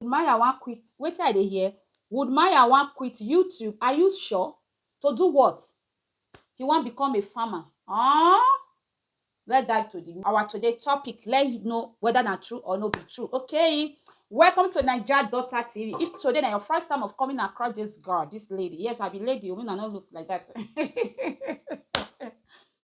Maya wan quit wetin I dey hear Would Maya wan quit YouTube Are you sure? To do what? He wan become a farmer Aww Let's dive to the our today topic let he know whether na true or no be true okay Welcome to Naija Daughter TV If today na your first time of coming across this girl, this lady, yes I be lady o make una no look like that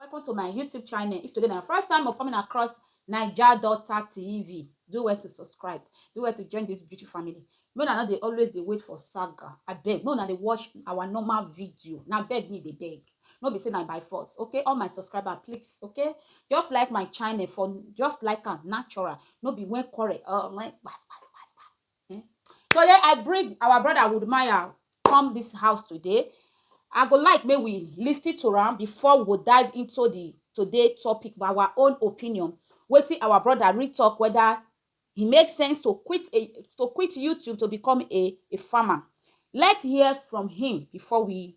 Welcome to my YouTube channel. If today na your first time of coming across Naija Daughter TV, do well to subscribe. Do well to join this beauty family. Make una no dey always dey wait for saga. Abeg, make una dey watch our normal video. Na beg me dey beg. No be say na by force, okay? All my subscriber, please, okay? Just like my channel for just like am natural. No be when quarrel or when gbas gbas gbas gbas. um today I bring our brother Woodmaya come this house today I go like make we listen to am before we go dive into the today topic by our own opinion wetin our brother read talk whether e make sense to quit a to quit YouTube to become a a farmer let's hear from him before we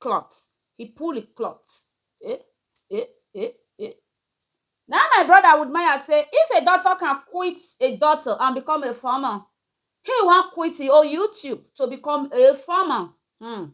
cloth he pull the cloth eh eh eh eh. Na my brother would maya say if a doctor can quit a doctor and become a farmer he wan quit e own YouTube to become a farmer hmm.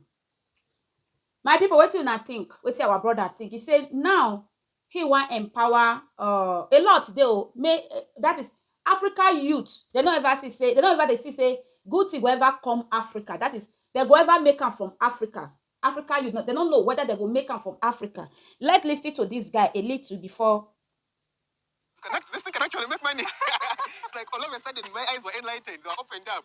My people wetin una think wetin our brother think he say now He wan empower uh a lot dey o may that is Africa youth dem no ever see say dem no ever dey see say good thing go ever come Africa that is dem go ever make am from Africa Africa youth dem no know whether dem go make am from Africa let listen to this guy a little before Connect, this thing can actually make money. it's like all of a sudden my eyes were enlightened, they were opened up.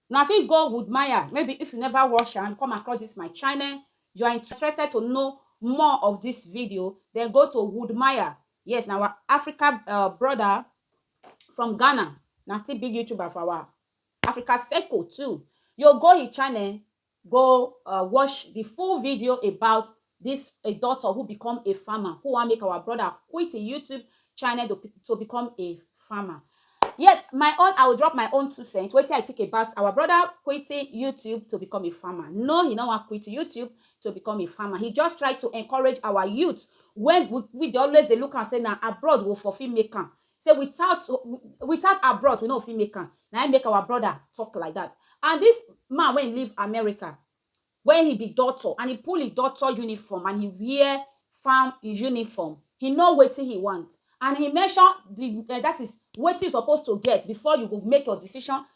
Una fit go Wood Maya maybe if you never watch am come across this my channel you are interested to know more of this video then go to Wood Maya yes na our Africa uh, brother from Ghana na still big YouTuber for our Africa circle too you go his channel Go um watch the full video about this a doctor who become a farmer who wan make our brother quit him YouTube channel to, to become a farmer. Yes, my own, I will drop my own two cents. Wetin I think about our brother quitting YouTube to become a farmer. No, he no wan quit YouTube to become a farmer. He just try to encourage our youth when we, we dey always dey look am say na abroad we for fit make am. Say without without our broth we no go fit make am na him make our brother talk like that and this man wey he leave America wey he be doctor and he pull him doctor uniform and he wear farm uniform he know wetin he want and he mention the that is wetin you suppose to get before you go make your decision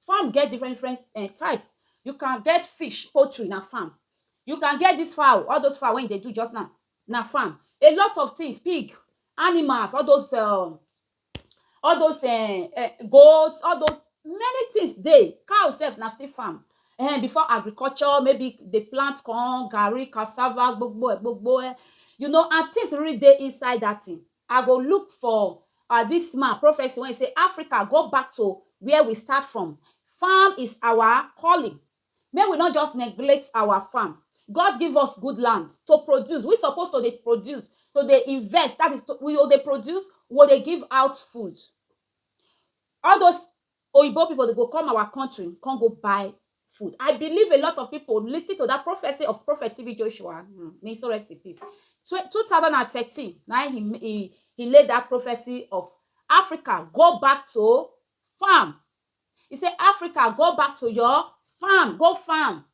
Farm get different different um type. You can get fish, poultry na farm. You can get dis fowl, all dos fowl wey you dey do juz now, na farm. A lot of tins pig, animals, all dos um all dos um goat, all dos many tins dey. Cow sef na still farm. um Before agriculture, maybe dey plant corn, garri, cassava, gbogbo e gbogbo e. You know an tins really dey inside dat tin. I go look for ah this man prophecy when he say Africa go back to where we start from farm is our calling make we not just neglect our farm God give us good land to produce we suppose to dey produce to dey invest that is to we go dey produce we go dey give out food all those Oyibo people dey go come our country come go buy food I believe a lot of people listen to that prophecy of prophet TB Joshua hmm may he so rest in peace Twe- 2013 na he he he lay that prophecy of Africa go back to farm he say Africa go back to your farm go farm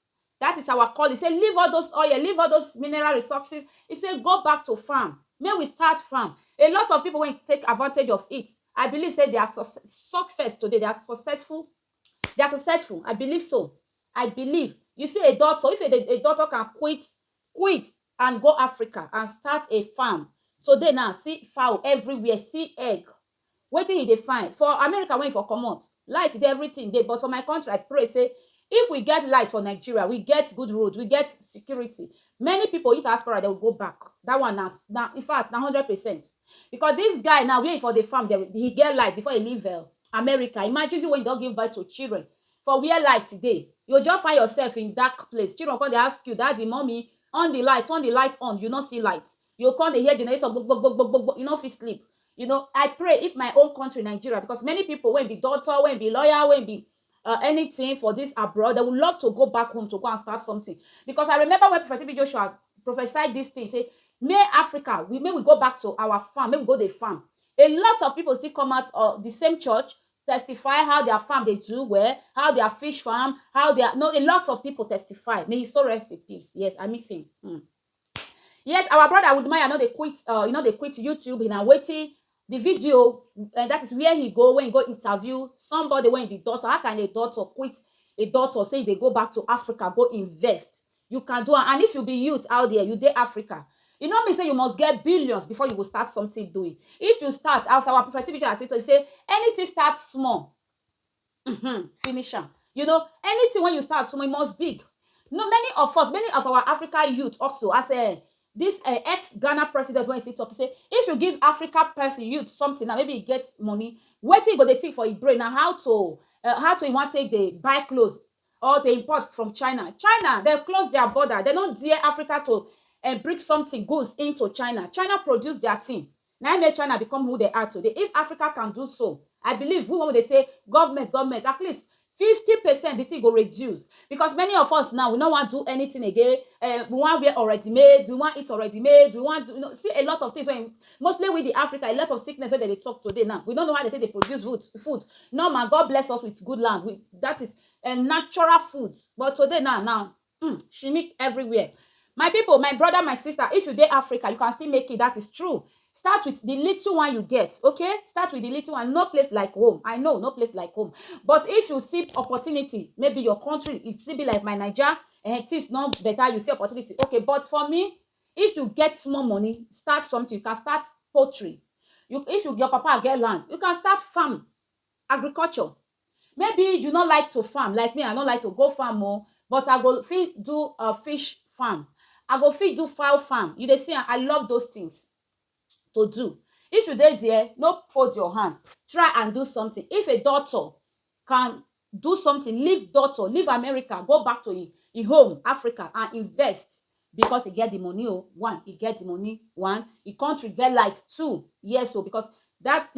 That is our calling say leave all those oil leave all those mineral resources he say go back to farm make we start farm a lot of people wey take advantage of it I believe say they are success today they are successful they are successful I believe so I believe you see a doctor if a, a doctor can quit quit and go Africa and start a farm today now see fowl everywhere see egg Wetin you dey find? For America wey you for comot, light dey everything dey but for my country I pray say if we get light for Nigeria, we get good road, we get security, many people if diaspora dey will go back that one na in fact na hundred percent because this guy now where he for dey farm dem he get light before he leave um America imagine you wey you don give birth to children for where light dey you go just find yourself in dark place children go come dey ask you daddy, mummy on the light, turn the light on you no see light you go come dey hear generator gbo gbo gbo gbo gbo, you no fit sleep you know I pray if my own country Nigeria because many people wey be doctor, wey be lawyer, wey be um anything for this abroad dem will love to go back home to go and start something because I remember when Prophet TB Joshua prophesy this thing say may Africa we may we go back to our farm make we go dey farm a lot of people still come out of the same church testify how their farm dey do well, how their fish farm, how their no a lot of people testify may his soul rest in peace yes I miss him um Yes, our brother Woodmaya no dey quit, uh, he no dey quit YouTube, na waiting the video, uh, that is where he go, when he go interview somebody when be doctor. How can a doctor quit a doctor say they go back to Africa, go invest? You can do And if you be youth out there, you dey Africa. You know me say you must get billions before you go start something doing. If you start, as our prophet Tibija say, say anything start small, um finish am you know anything wey you start so e must big no many of us many of our Africa youth also as a um, this uh, eh, ex Ghana president when he still talk say if you give Africa person youth something now maybe he get money wetin he go dey think for his brain na how to uh, how to he wan take dey buy clothes or dey import from China China dem close their border dem no dare Africa to uh, bring something goods into China China produce their thing Na im make China become who dem are today. If Africa can do so, I believe we wey we dey say government, government, at least fifty percent the thing go reduce because many of us now, we no wan do anything again, um we wan wear already made, we wan eat already made, we wan do, see a lot of things wey, mostly we the Africa, a lot of sickness wey dem dey talk today now, we no know how dem take dey produce food, food. Normal, God bless us with good land, with, that is, um natural food, but today now, na Hmm, she meet everywhere. My people, my brother, my sister, if you dey Africa, you can still make it. That is true. Start with the little one you get, okay? Start with the little one. No place like home. I know, no place like home. But if you see opportunity, maybe your country, it still be like my Niger, and eh, things not better, you see opportunity. Okay, but for me, if you get small money, start something. You can start poultry. You, if you, your papa get land, you can start farm. Agriculture, Maybe you no like to farm like me I no like to go farm o but I go fit do um fish farm, I go fit do fowl farm, you dey see am I love those things to do. If you dey there no fold your hand try and do something if a doctor can do something leave doctor leave America go back to im home Africa and invest Because e get the money o one e get the money one e country get light two yes o because that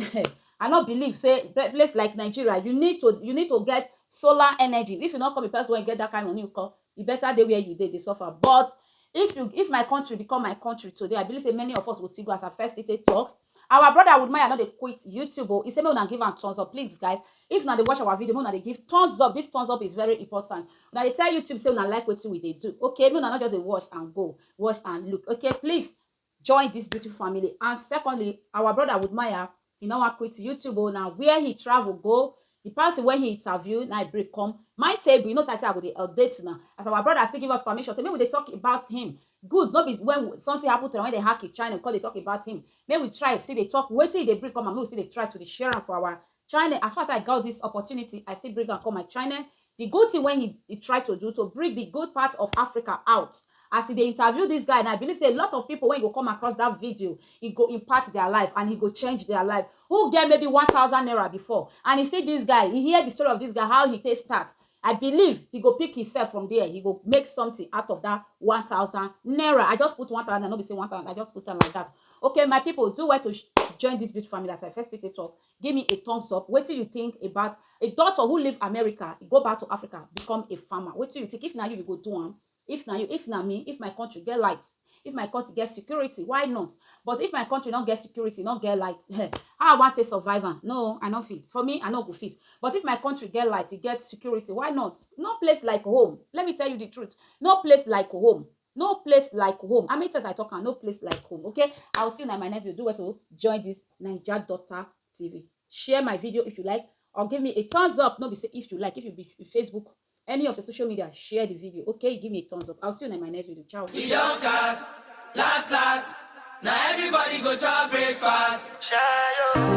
I no believe say place like Nigeria you need to you need to get solar energy if you no come be person wey get that kind money nko e better dey where you dey dey suffer but if you if my country become my country today I believe say many of us go still go as I first take talk Our brother Woodmaya no dey quit YouTube o, he say make una give am thumbs up, please guys if una dey watch our video make una dey give thumbs up, this thumbs up is very important, una dey tell YouTube say una like wetin we dey do okay, make una no just dey watch and go, watch and look okay, please join this beautiful family and secondly our brother Woodmaya he no wan quit YouTube o, na where he travel go The person wey he interview na him bring come my table, you know say I say I go dey update una as our brother still give us permission say make we dey talk about him good no be when something happen to am wey dem hack him channel we come dey talk about him make we try still dey talk wetin he dey bring come and make we still dey try to dey share am for our channel as far as I got this opportunity I still bring am come my channel Di good tin wey he try to do to bring di good part of Africa out. As he dey interview dis guy now, I believe say a lot of pipo wey go come across dat video, he go impact dia life and he go change dia life. Who get maybe one thousand naira before and he see dis guy, he hear di story of dis guy, how he take start, I believe he go pick himself from dia, he go make something out of dat one thousand naira. I just put one thousand naira, no be say one thousand, I just put am like dat. Okay my pipo, do well to join dis beautiful family as I first take dey tok, Give me a thumbs up wetin you think about a doctor who leave America e go back to Africa become a farmer wetin you think if na you you go do am if na you if na me if my country get light if my country get security why not but if my country no get security no get light eh, how I wan take survive am no I no fit for me I no go fit but if my country get light e get security why not no place like home let me tell you the truth no place like home. No place like home how many times I talk am no place like home okay I will see you in my next video do well to join this Naija Daughter TV share my video if you like or give me a thumbs up no be say if you like if you be Facebook any of the social media share the video okay give me a thumbs up I will see you in my next video ciao. We don cast, last last. Now everybody go chop breakfast. Shayo.